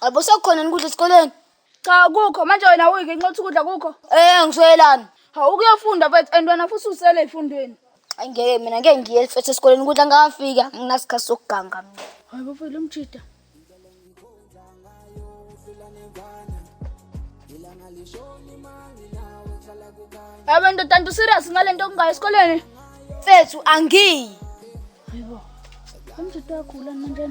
Qabo sekukhona ukudla esikoleni. Cha kukho manje wena uyike nxothi ukudla kukho. Eh ngiswelani. Hawu ukuyofunda mfethu and wena futhi usele efundweni. Ay ngeke mina ngeke ngiye mfethu esikoleni ukudla ngafika nginasikhathi sokuganga mina. Hayi bafethu lomjida. Yabo ndoda nto serious ngalento okungayo esikoleni. Mfethu angiyi. Hayibo. Umjida uyakhula manje.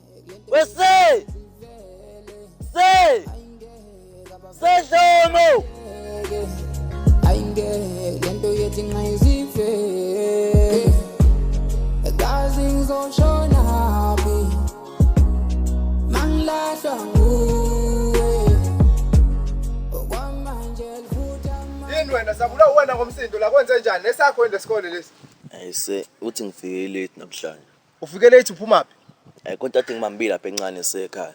We say! Say! Say Dlomo! Ayingeke lento yethi ngizife. Kazi ngizoshona phi? Mangilahlwa nguwe. Okwamanje liphutha manje. Yini wena sabula wena ngomsindo la kwenze njani? Esakho yini lesikole lesi? Ayise uthi ngifike late namhlanje. Ufike late uphumaphi? Eh konke ade ngimambile lapha encane sekhaya.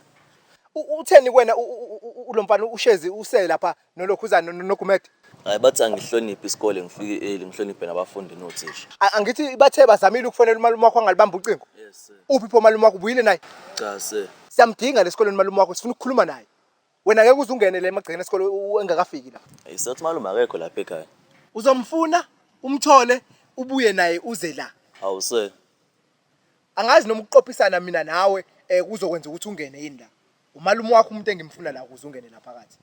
U- Utheni kuwena u- u- u- u- lo mfana ushezi usele lapha nolokhuzana no- nogumede? Hayi bathi angihloniphi isikole ngifike early ngihloniphe nabafundi nothisha. A- Angithi bathe bazamile ukufonela umalume wakho angalibamba ucingo. Yes sir. Uphi pho umalume wakho ubuyile naye? Cha sir. Siyamdinga lesikoleni umalume wakho sifuna ukukhuluma naye. Wena ngeke uze ungene la emagcekeni esikole u- u- engakafiki la. Hey, sothi malume akekho lapha ekhaya. Uzomfuna, umthole, ubuye naye uze la. Awu sir. Angazi noma ukuqophisana mina nawe eh kuzokwenza ukuthi ungene yini la. Umalume wakho umuntu engimfuna la ukuze ungene la phakathi.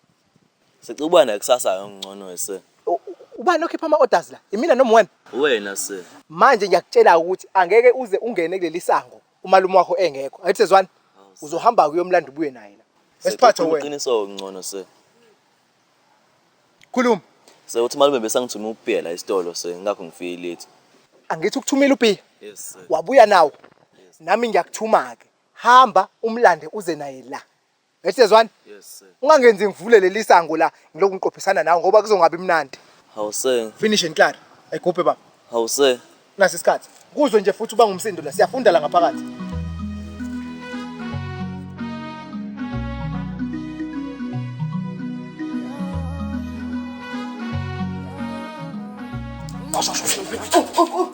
Sicela ukuba nakusasa ngcono we sir. U- u- Ubani okhipha ama orders la? Imina noma wena? Uwena sir. Manje ngiyakutshela ukuthi angeke uze ungene kuleli sango umalume wakho engekho angithi sezwani uzohamba kuyomlanda ubuye naye la esiphathe wena iqiniso ngcono se khuluma se uthi malume besangithuma upiya la isitolo se ngakho ngifike late angithi ukuthumela upiya yes sir wabuya nawo nami ngiyakuthuma ke hamba umlande uze naye la Ethi sezwani? Yes sir. Ungangenzi ngivule leli sango la ngiloku ngiqophisana nawe ngoba kuzongabi mnandi. Hawu sir. Finish and clear. Egubhe baba. Hawu sir. Nasi isikhathi. Kuzwe nje futhi uba ngumsindo la siyafunda la ngaphakathi. Oh, oh, oh.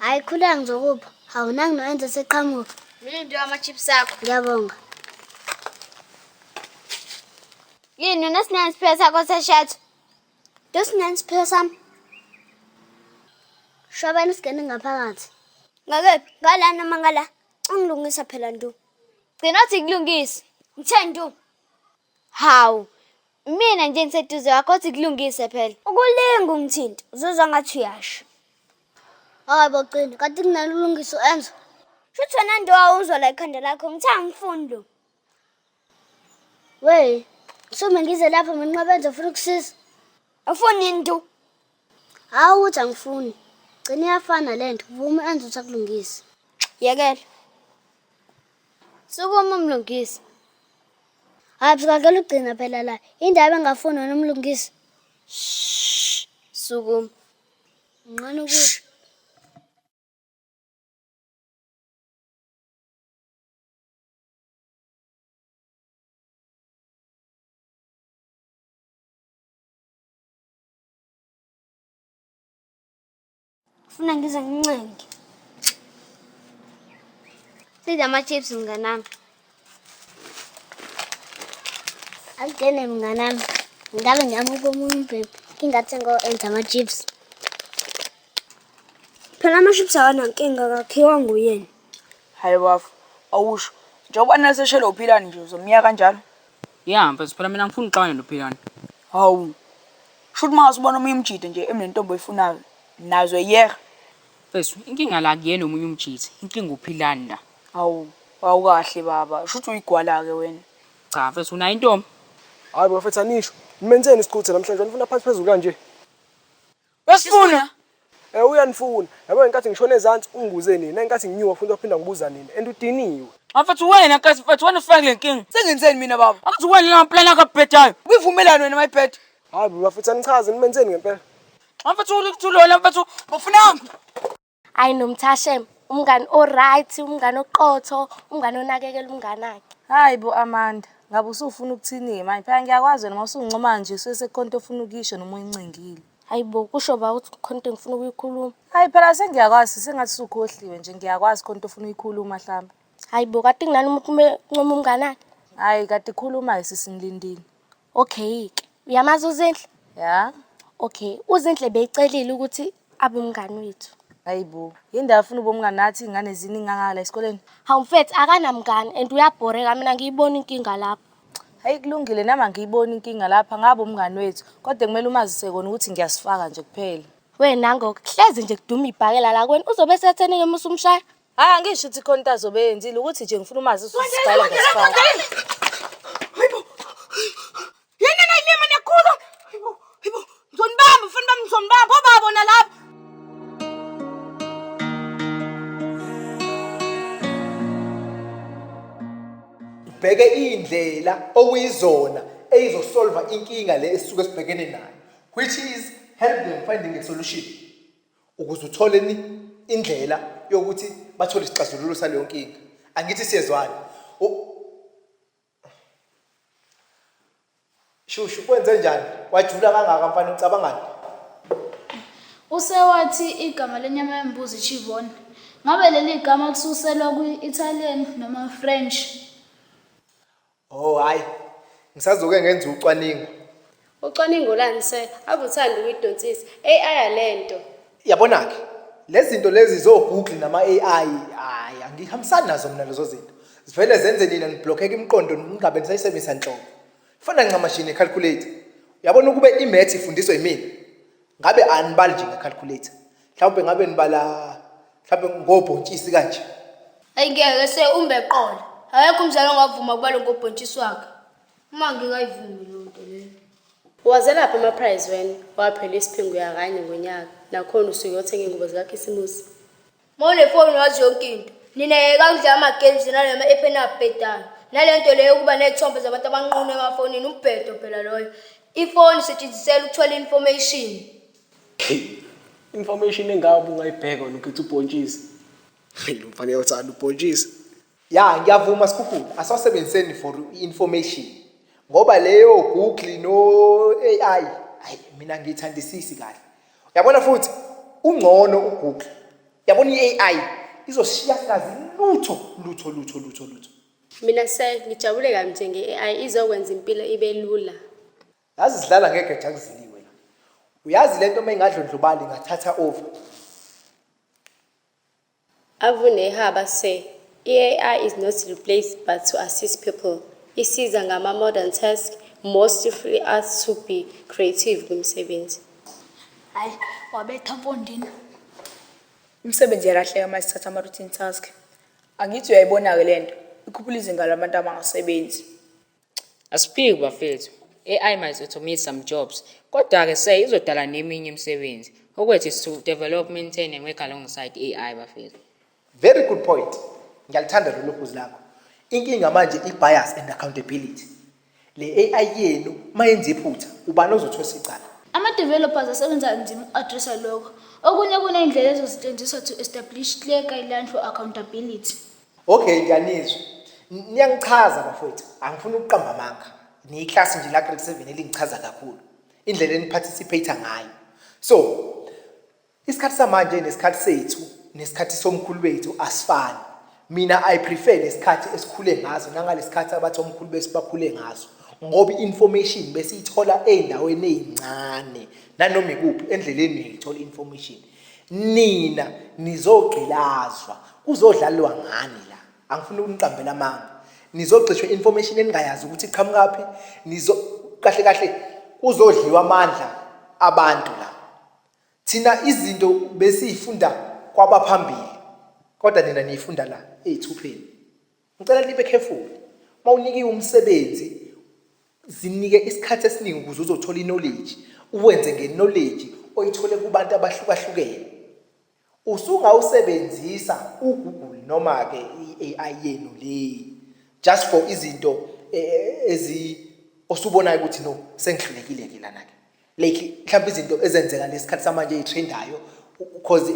hayi khuleka ngizokupha awunangi noenze seqhamuka mina nje ama-chips akho ngiyabonga yini unesinani isiphiwo sakho seshatho ntosinani isiphiwo sami shobani singene ngaphakathi ngakephi ngala noma ngala ungilungisa phela ntu gcina othi kulungise ngithe ntu Hawu, mina nje ngiseduze wakho othi kulungise phela. Ukulinga ungithinta, uzozwa ngathi uyasho. Hayi bo Cele, kade kunalo ulungiso enzo. Shuthi wena nto wawuzwa la ikhanda lakho, ngithe angifuni lo. Wey, sume ngize lapha mina nqabenza ufuna ukusiza. Awufuni nto. Hawu uthi angifuni. Gcina iyafana lento. Vuma enze uthi akulungise. Yekela. Sukuma umlungisi. Hayi sikakela ugcina phela la. Indaba engafuni wena umlungisi. Shh. Sukuma. Ngqana ukuthi Funa ngize ngincenge. Sidla ama-chips mnganami. Akugene mnganami. Ngabe ngiyamuka omunye umbhebhi. Ngingathi ngo-enza ama-chips. Phela ama-chips awanankinga kakhiwa nguyena. Hayi bafo, awusho. Njengoba nase shelo uphilani nje uzomyeka kanjalo. Ya mfethu phela mina ngifuna uxabane noPhilani. Hawu. Shuthi mangase ubona omunye umjita nje emnentombi oyifunayo. Nazo yeh. Mfethu inkinga la kuyena omunye umjita. Inkinga uPhilani la. Hawu. Awukahle baba. Shuthi uyigwala ke wena. Cha mfethu unayo intombi. Hayi bafethu anisho. Nimenzeni isiquthe namhlanje wanifuna phansi phezulu kanje. Besifuna Eh uyanifuna. Yabo ngenkathi ngishona ezansi ungibuze nini. Ngenkathi nginyuka futhi waphinda ngibuza nini. And udiniwe. Mfethu wena kazi mfethu wena ufake le nkinga. Sengenzeni mina baba? Akuthi wena la plan akabhedayo. Uyivumelani wena mayibheda? Hayi bafethu anichaze nimenzeni ngempela. Mfethu ulikuthulona mfethu ufunani? Ayi nomthashem umngani oright umngani oqotho umngani onakekela umngani akhe. Hayi bo Amanda, ngabe usufuna ukuthini-ke manje? Phela ngiyakwazi wena uma usungincoma nje suke sekukhona into ofuna ukuyisho noma uyincengile. Hayi bo kusho ba ukuthi khona into engifuna ukuyikhuluma. Hayi phela sengiyakwazi sengathi usukhohliwe nje ngiyakwazi khona into ofuna uyikhuluma mhlawumbe. Hayi bo kade kunani umuntu uma encoma umngani akhe. Hayi kade khuluma-ke sisi ngilindile. Okay ke. Uyamazi uZinhle? Ya. Okay, uZinhle becelile ukuthi abe umngani wethu. Hayibo, yindawo afuna ubomngani nathi ingane ziningi kangaka la esikoleni. Hawu mfethu akanamngani and uyabhoreka mina ngiyibona inkinga lapho. Hayi kulungile nami angiyiboni inkinga lapha ngabe umngani wethu kodwa kumele umazise kona ukuthi ngiyasifaka nje kuphela. Wena ngoku hlezi nje kuduma ibhakela la kuwena uzobe esethenike uma usumshaya. Hayi angisho ukuthi khona into azobe yenzile ukuthi nje ngifuna umazi usisigala ngesifaka. Hayibo. Yena nayi mema nekhulu. Hayibo. Hayibo. Ngizonibamba mfana bami ngizonibamba obabo nalapha. Bheke indlela okuyizona eyizosolva inkinga le esisuke sibhekene nayo which is help them finding a solution. ukuze uthole ni indlela yokuthi bathole isixazululo saleyo nkinga angithi siyezwana shushu kwenze njani wajula kangaka mfana ucabangani usewathi igama lenyama yembuzi chivone ngabe leli gama kususelwa kwi-italian noma french Oh hayi. Ngisazoke ngenze ucwaningo. Ucwaningo lani sir? Akuthandi ukuyidonsisa. AI alento. Yabona ke. Lezinto lezi zo Google nama AI hayi angihambisani nazo mina lezo zinto. Zivele zenze nina niblockeke imiqondo ningabe nisayisebenzisa nhlobo. Fana ncamashini calculator. Yabona ukube imath ifundiswa yimina. ngabe anibali nje ngecalculator mhlawumbe ngabe nibala mhlawumbe ngobhontshisi kanje ayingeke se umbe eqola akekho umzali ongavuma kubalo ngobhontshisi wakhe uma ngingayivumi loo nto leyo wazelaphi amaprize wena waphela isiphingo yakanye ngonyaka nakhona usuke yothenga ingubo zikakhisimusi mawunefoni wazi yonke into nina yeka kudlala ama-games nalema epheni abhedayo nale nto leyo yokuba ney'thombe zabantu abanqunu emafonini umbhedo phela loyo ifoni isetshenzisela ukuthola i-information information engabe ungayibheka wena ukhetha ubhontshisi Hey, lo mfana uyathanda ubhontshisi Ya ngiyavuma Skhukhula asasebenziseni for information ngoba leyo Google no AI hayi mina ngiyithandisisi kahle. Yabona futhi ungcono uGoogle. Yabona iAI izoshiya kazi lutho lutho lutho lutho lutho. Mina se ngijabule kabi nje ngeAI izokwenza impilo ibe lula. Yazi sidlala ngeke jakuzini wena. Uyazi lento uma ingadlondlobali ngathatha over. Avuneha bathe i-AI is not replaced but to assist people, isiza ngama-modern task, mostly free us to be creative kwimisebenzi. Hhayi, wabetha mpondini. Imisebenzi iyalahleka uma sithatha ama-routine task. Angithi uyayibona-ke le nto, ikhuphula izinga labantu abangasebenzi. Asiphiki bafethu. AI might automate some jobs. Kodwa ke se izodala neminye imisebenzi. Okwethu is to develop, maintain and work alongside AI bafethu. Very good point. Ngiyalithanda lolu phuzu lakho. Inkinga manje i-bias and accountability. Le AI yenu mayenza iphutha, ubani ozothosa icala? Ama-developers asebenza kanzima uku-addressa lokho. Okunye kuneyndlela ezosetshenziswa to establish clear guideline for accountability. Okay ngiyanizwa. Niyangichaza bafowethu, angifuni ukuqamba amanga. Ni class nje la grade 7 elingichaza kakhulu. Indlela eni participate ngayo. So, isikhathi samanje nesikhathi sethu nesikhathi somkhulu wethu asifani. Mina I prefer lesikhathi esikhule ngaso nangalesikhathi abathi omkhulu besibakhule ngaso. Ngoba information besiyithola ezindaweni ezincane nanoma ikuphi endleleni niyithola information. nina nizogqilazwa kuzodlalwa ngani la angifuni ukuniqambela amanga nizogxishwa information eningayazi ukuthi iqhamukaphi nizo kahle kahle kuzodliwa amandla abantu la thina izinto besiyifunda kwabaphambili kodwa nina niyifunda la eyithupheni Ngicela nibe careful. Mawunikiwe umsebenzi zinike isikhathi esiningi ukuze uzothola iknowledge, uwenze ngeknowledge oyithole kubantu abahlukahlukene. Usungawusebenzisa uGoogle noma ke iAI yenu le just for izinto eh, eh, ezi osubonayo ukuthi no sengihlulekile ke lana ke. like mhlawumbe izinto ezenzeka lesikhathi samanje eyitrendayo because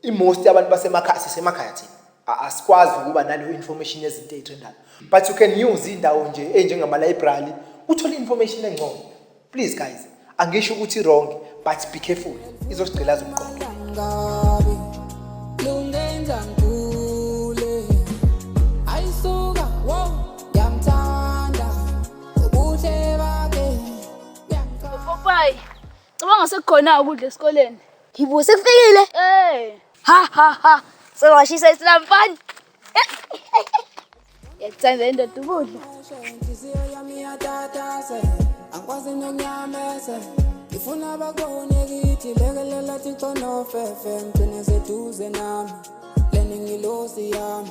i-most abantu basemakhaya sisemakhaya thina asikwazi ukuba naleyo information yezinto eyitrendayo but you can use indawo nje enjengama-library uthole information engcono please guys angisho ukuthi wrong but be careful izosigqila zomqondo Popayi, cabanga sekukhona ukudla esikoleni. Yibo sekufikile. Eh. Ha ha ha. Sewashisa isilampani. Yakuthanda indoda ukudla. Inhliziyo yami yatatase. Angikwazi nonyamese. Ngifuna bakubone kithi lekelela thixo nofefe ngigcine seduze nami. Leni ngilosi yami.